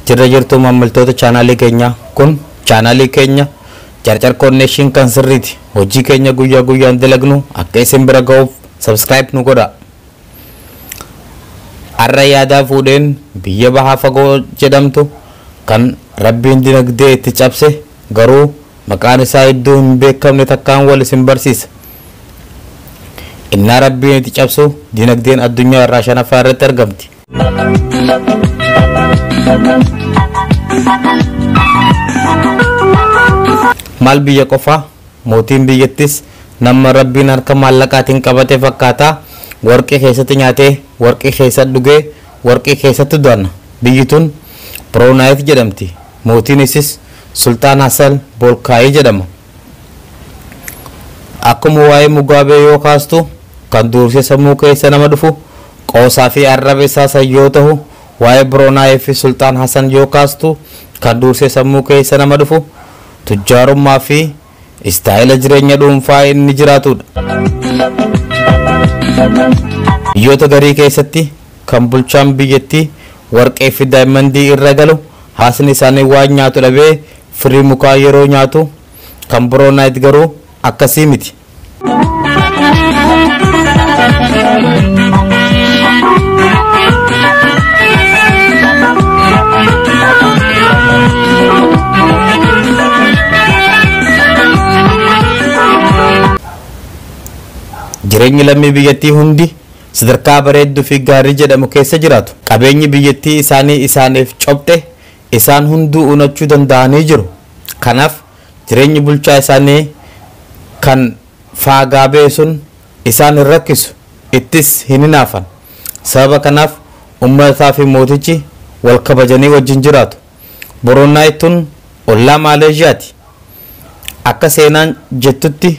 Jirra jirtuu maamiltoota chaanaalii keenyaa kun chaanaalii keenya Carcar Connection kan sirriiti. Hojii keenya guyyaa guyyaan dalagnu akka isin bira ga'uuf subscribe nu godha. Har'a yaadaa fuudheen biyya bahaa fagoo jedhamtu kan rabbiin dinagdee itti cabse garuu maqaan isaa iddoo hin beekamne takkaan wal isin barsiisa. Innaa rabbiin itti cabsu dinagdeen addunyaa irraa shanaffaa irratti argamti. maal biyya qofa mootiin biyyattis nama rabbiin harka maallaqaatiin qabate fakkaata warqii keessatti nyaatee warqii keessa dhugee warqii keessatti du'anna biyyi tun biroonaayit jedhamti mootiin isis sultaan hasan boolkaayii jedhama Akkuma waa'ee Mugaabee yoo kaastu kan dursee sammuu keessa nama dhufu qoosaa fi arraba isaa san yoo tahu, waa'ee Brunei fi Sulxaan Hasan yoo kaastu kan dursee sammuu keessa nama dhufu tujjaarummaa fi istaayila jireenya dhuunfaa inni jiraatudha. Biyyoota garii keessatti kan bulchaan biyyattii warqee fi daayimandii irra galu haasni isaanii waan nyaatu dhabee Firii mukaa yeroo nyaatu kan bro night garuu akkasii miti. Jireenyi lammii biyyattii hundi sadarkaa bareedduu fi gaarii jedhamu keessa jiraatu. Qabeenyi biyyattii isaanii isaaniif cophe Isaan hunduu unachuu danda'anii jiru. Kanaaf jireenyi bulchaa isaanii kan faagaa ba'e sun isaan hin rakkisu, ittis hin hinaafan. Sababa kanaaf uummataa fi mootichi wal kabajanii wajjin jiraatu. Buruunaay tun ollaa Maaleezhiyaati. Akka seenaan jettutti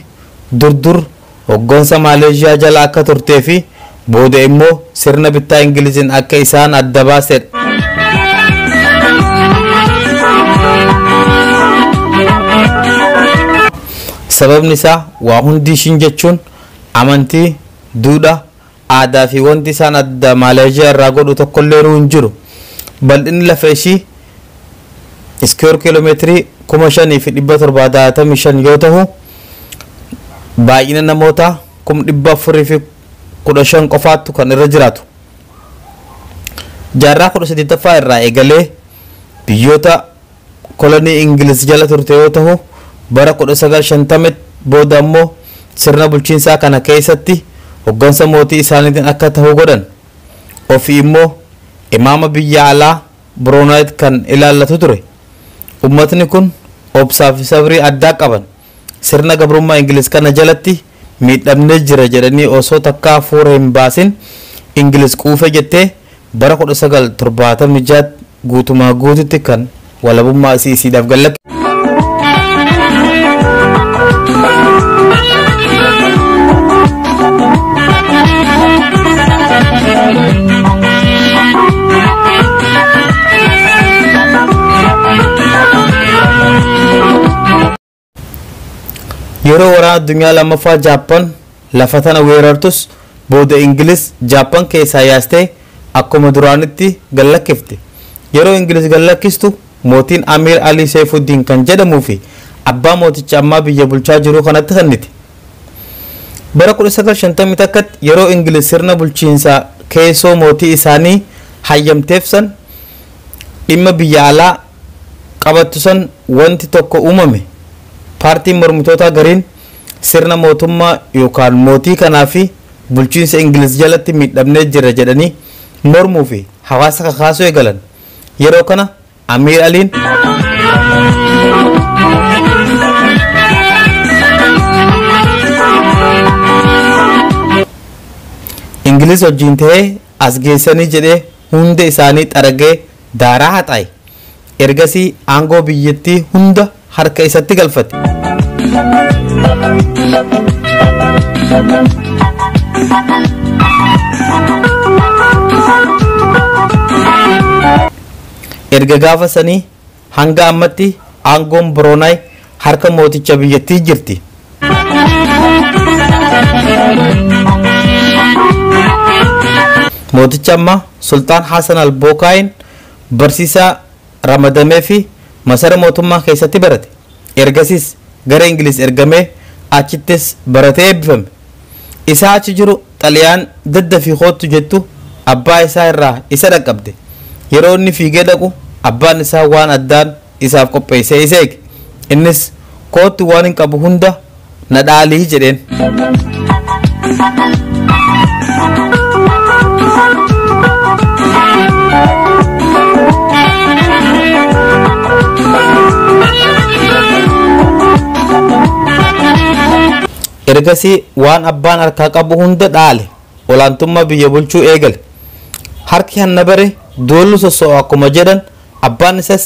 dur dur hoggansa Maaleezhiyaa jala akka turtee fi booda immoo sirna bittaa Ingiliziin akka isaan adda baasedha. Sababni isaa waa hundi ishiin jechuun amantii, duudhaa, Aadaa fi wanti isaan adda Maaleezhiyaa irraa godhu tokkolleenu hin jiru. Bal'inni lafa ishii iskuweer kiiloomeetirii 5,765 yoo tahu, baay'ina namoota 415,000 qofaattu kan irra jiraatu. Jaarraa 18ffaa irraa eegalee biyyoota kolonii Ingiliz jala turte yoo tahu, bara 1950tti booda ammoo sirna bulchiinsaa kana keeysatti hoggansa mootii isaaniitiin akka tahu godhan. Ofii immoo imaama biyya alaa, Brunei, kan ilaallatu ture. Ummatni kun obsaa fi sabrii addaa qaban. Sirna gabrummaa Ingiliz kana jalatti miidhamnee jirra jedhanii osoo takkaa fuura hin baasin Ingiliz quufee jettee bara 1976tti guutumaa guututti kan walabummaa isii isiidhaaf gad lakkifte. Yeroo waraana addunyaa lammaffaa Jaappan lafa tana weerartus booda Ingiliz Jaappan keessaa yaastee akkuma duraanitti gallakkifte. Yeroo Ingiliz gallakkistu Mootiin Amiir Alii Seeyfuddiin kan jedhamuu fi abbaa mooticha ammaa biyya bulchaa jiruu kanatti kennite. Bara 1951tti yeroo Ingiliz sirna bulchiinsa keessoo mootii isaanii hayyamteef san dhimma biyya alaa qabattu san wanti tokko uumame. Paartiin mormitootaa gariin sirna mootummaa yookaan mootii kanaa fi bulchiinsa Ingiliz jalatti miidhamnee jirra jedhanii mormuu fi hawaasa kakaasuu eegalan. Yeroo kana Amiir Aliin. Ingiliz wajjin ta'ee as geessanii jedhee hunda isaanii xaragee daaraa haxaaye. Ergasii aangoo biyyattii hunda harka isatti galfate. Erga gaafa sanii hanga ammatti aangoon Biroonaay harka mooticha biyyattii jirti. Mooticha ammaa Sultaan Hasan al-Bookaayin barsiisaa ramadameefi masara mootummaa keessatti barate. Ergasiis gara Ingiliz ergamee achittis baratee eebbifame. Isaa achi jiru xalayaan daddafii koottu jettu abbaa isaa irraa isa dhaqqabde. Yeroo inni fiigee dhaqu abbaan isaa waan addaan isaaf qopheessee isa eege. Innis koottu waanin qabu hunda na dhaali jedheen. ergasii waan abbaan harkaa qabu hunda dhaale olaantummaa biyya bulchuu eegale harki hanna bare doollu sossoo'a akkuma jedhan abbaan isas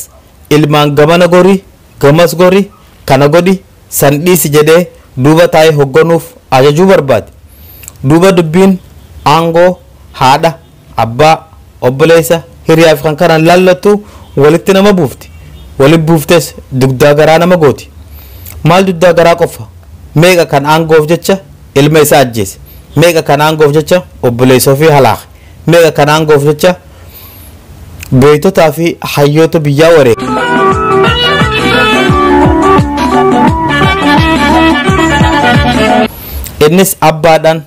ilmaan gamana gorii Gamas gori, kana godhi, san dhiisi jedhee duuba taa'ee hogganuuf ajajuu barbaade. Duuba dubbiin aangoo, haadha, abbaa, obboleessa, hiriyaafi kan kana hin laallattu walitti nama buufti. Walitti buuftees dugdaa garaa nama gooti. Maal dugdaa garaa qofa, meeqa kan aangoof jecha ilma isaa ajjeese, meeqa kan aangoof jecha obboleessa ofii halaake. Mee kan aangoof jecha gooytotaa fi hayyoota biyyaa wareega. Innis abbaadhaan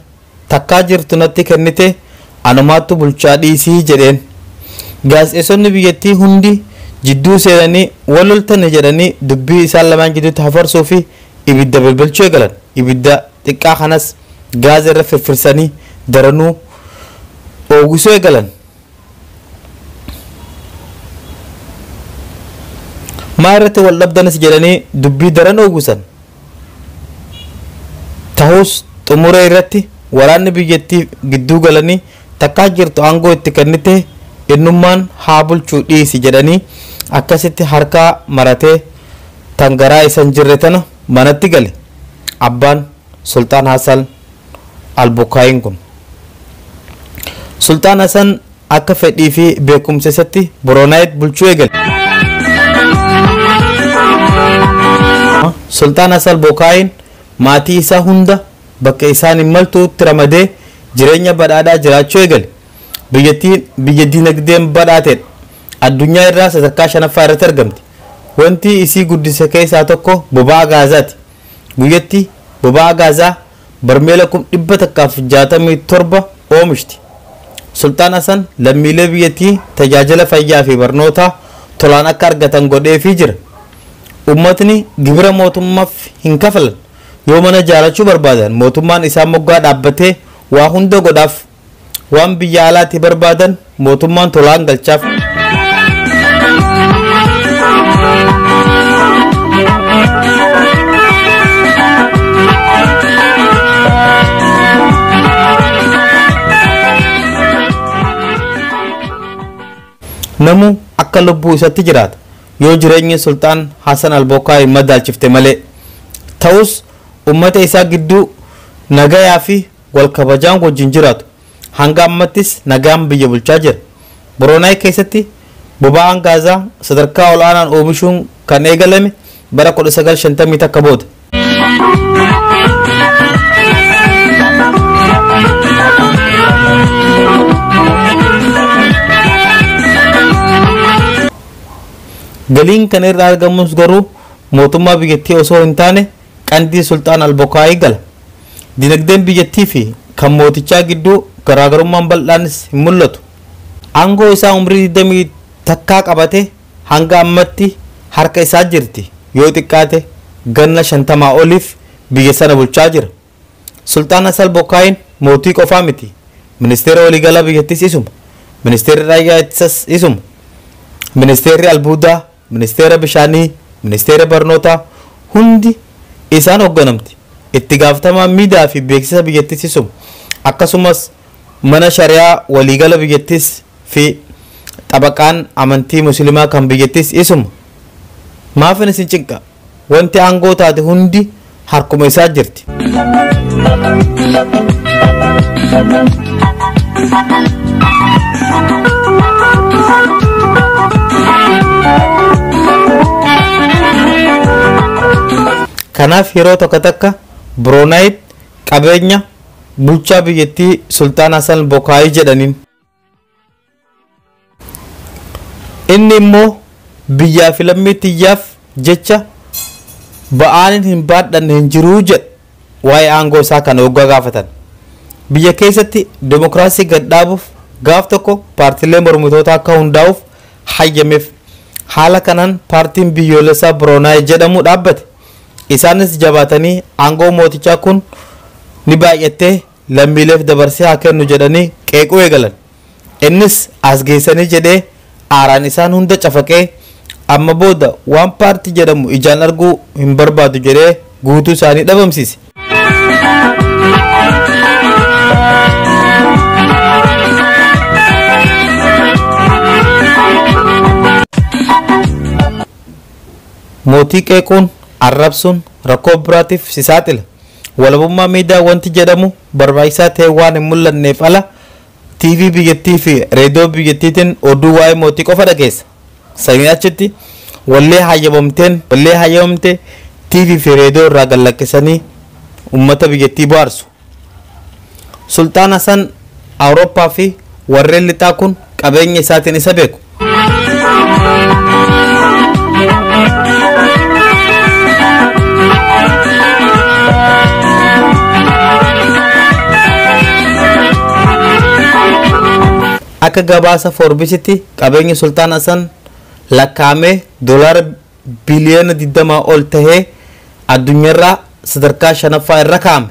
takkaa jirtu natti kennite anumaattu bulchaa dhiisii jedheen. Gaazexeessonni biyyattii hundi jidduu seenanii wal loltani jedhanii dubbii isaan lamaan gidduutti hafarsuu fi ibidda bilbilchuu eegalan. Ibidda xiqqaa kanas gaaza irra firfirsanii daranuu oogisuu eegalan. Maa irratti wal dhabdanis jedhanii dubbii daran oogisan. Tahus xumura irratti waraanni biyyattii gidduu galanii takkaa jirtu aangoo itti kennite innummaan haa bulchuu dhiisi jedhanii akkasitti harkaa maratee tan garaa isa hin jirre tana manatti gale. Abbaan Sulxaan Hasan Al-Bukkaayiin kun. Sulxaan Hasan akka fedhii fi beekumsa isatti Boroonaayit bulchuu eegale. Sulxaan Hasan Al-Bukkaayiin maatii isaa hunda bakka isaan hin maltuutti ramadee jireenya badhaadhaa jiraachuu eegale. Biyyattiin biyya dinagdeen badhaatedha. Addunyaa irraa sadarkaa shanaffaa irratti argamti. Wanti isii guddise keessaa tokko boba'aa gaazaati. guyyatti boba'aa gaazaa barmeela kum 167 oomishti. Sulxaan Hasan lammiilee biyyattii tajaajila fayyaa fi barnootaa tolaan akka argatan godheefii jira. Ummatni gibira mootummaaf hin kafalan. Yoo mana ijaarachuu barbaadan mootummaan isaan moggaa dhaabbatee waa hunda godhaaf. waan biyya alaatti barbaadan mootummaan tolaan galchaaf. namuu akka lubbuu isatti jiraata yoo jireenyi sulxaan hasan albokkaa hin madaalchifte malee ta'us ummata isaa gidduu nagayaa fi wal kabajaan wajjin jiraatu. Hanga ammattis nagaan biyya bulchaa jira. Boroonaay keessatti boba'aan gaazaa sadarkaa ol'aanaan oomishuun kan eegalame bara 1950 takka booda. Galiin kana irraa argamus garuu mootummaa biyyattii osoo hin taane Qandii Sulxaan Al-Bokaayii gala. Dinagdeen biyyattii fi kan mootichaa gidduu garaagarummaan bal'aanis hin mul'atu. Aangoo isaa umrii 21 qabatee hanga ammatti harka isaa jirti, yoo xiqqaate ganna 50 oliif biyya sana bulchaa jira. Sulxaan Hasal Bokaayiin mootii qofaa miti, ministeera waliigalaa biyyattiis isuma, ministeerri raayyaa ittisas isuma, ministeerri albuudaa, Ministeera Bishaanii, Ministeera Barnootaa, hundi isaan hogganamti itti gaafatamaa miidaa fi beeksisa biyyattii Sisum akkasumas mana shariyaa waliigala biyyattiis fi xabaqaan amantii musilimaa kan biyyattiis isuma. Maafin isin cinqa? Wanti aangoo taate hundi harkuma isaa jirti. Kanaaf yeroo tokko takka Broonaayit qabeenya bulchaa biyyattii Sultaan Hasan Bokaayii jedhaniin Inni immoo biyyaa fi lammii tiyyaaf jecha ba'aanin hin baadhanne hin jiruu jedha waa'ee aangoo isaa kana hoggaa gaafatan. Biyya keessatti demokiraasii gad dhaabuuf gaaf tokko paartiilee mormitootaa akka hundaa'uuf hayyameef. Haala kanaan paartiin biyyoolessaa Biroonaay jedhamu dhaabbate. Isaanis jabaatanii aangoo mootichaa kun ni baay'attee lammiileef dabarsee haa kennu jedhanii qeequu eegalan. Innis as geessanii jedhee aaraan isaan hunda cafaqee amma booda waan paartii jedhamu ijaan arguu hin barbaadu jedhee guutuu isaanii dhabamsiise. Mootii qeequun, arrabsuun rakkoo biraatiif si saaxila. Walabummaa miidiyaa wanti jedhamu barbaachisaa ta'ee waan hin mul'anneef ala TV biyyattii fi reediyoo biyyattiitiin oduu waa'ee mootii qofa dhageessa. Saniin achitti wallee hayyamamteen wallee hayyamamte TV fi reediyoo irraa gad lakkisanii uummata biyyattii bohaarsu. Sulxaan Hasan Awurooppaa fi warreen lixaa kun qabeenya isaatiin isa beeku. Akka gabaasa Foorbisitti qabeenyi Sultaan Hasan lakkaa'amee doolaara biliyoona 20 ol tahee addunyaarraa sadarkaa shanaffaa irra kaa'ame.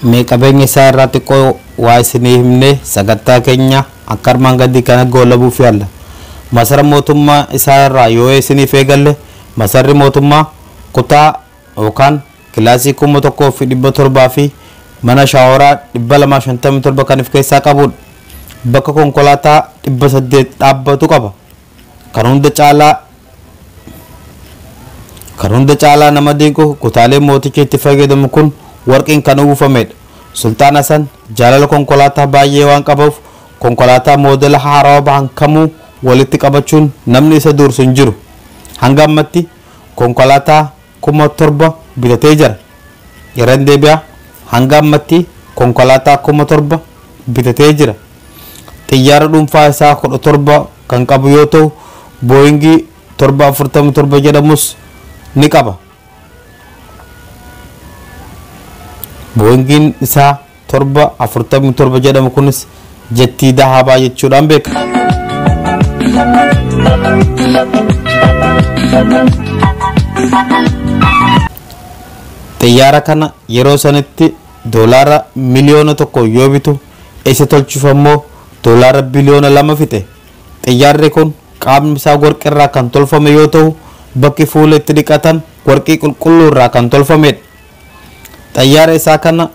mee qabeenya isaa irraa xiqqoo waa isinii himne sagantaa keenya akka armaan gadii kana goolabuuf yaalla masara mootummaa isaa irraa yoo isiniif eegalle masarri mootummaa kutaa yookaan kilaasii 1700 fi mana shaaworaa 257 kan if keessaa qabudha. Bakka konkolaataa 800 dhaabbatu qaba. Kan hunda caalaa Kan hunda caalaa nama dinqu kutaalee mootichi itti fayyadamu kun warqiin kan uwwifamedha. Sulxaan Hasan jaalala konkolaataa baay'ee waan qabuuf konkolaataa moodela haarawa bahan kamuu walitti qabachuun namni isa duursu hin jiru. Hanga ammatti konkolaataa kuma torba bitatee jira. Irran deebi'a, hanga ammatti konkolaataa kuma torba bitatee jira. Xiyyaara dhuunfaa isaa kudha torba kan qabu yoo ta'u, Booyingii torba afurtama torba jedhamus ni qaba. Booyingiin isaa 7, 47 jedhamu kunis jettii dahabaa jechuudhaan beekama. Xiyyaara kana yeroo sanitti doolaara miliyoona tokko yoo bitu isa tolchuuf ammoo doolaara biliyoona lama fixe. Xiyyaarri kun qaamni isaa warqii irraa kan tolfame yoo ta'u bakki fuula itti dhiqatan warqii qulqulluu irraa kan tolfamedha. Xayyaara isaa kana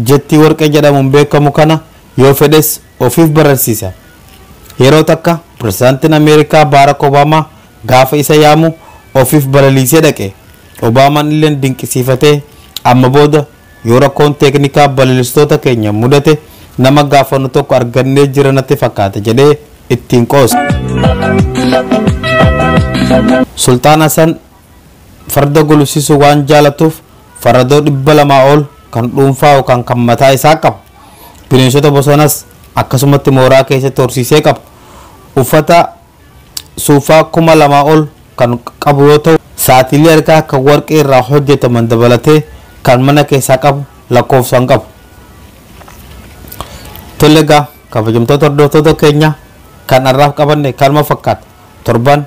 jettii warqee jedhamuun beekamu kana yoo fedhes ofiif bararsiisa. Yeroo takka Pirezidaantiin Ameerikaa Baarak Obaamaa gaafa isa yaamu ofiif balaliisee dhaqe. Obaamaan illeen dinqisiifatee amma booda yoo rakkoon teeknikaa balalistoota keenya mudate nama gaafannu tokko argannee jira natti fakkaata jedhee ittiin qoosa. Sulxaan Hasan Farda gulufsiisuu waan jaalatuuf faradoo 200 ol kan dhuunfaa yookaan kan mataa isaa qaba. Bineensota bosonas akkasumatti mooraa keessatti horsiisee qaba. Uffata suufaa 2000 ol kan qabu yoo ta'u, saatiilee harkaa kan warqee irraa hojjetaman dabalatee kan mana keessaa qabu lakkoofsa hin qabu. Tole egaa kabajamtoota hordoftoota keenya kan har'aaf qabanne kanuma fakkaata. Torban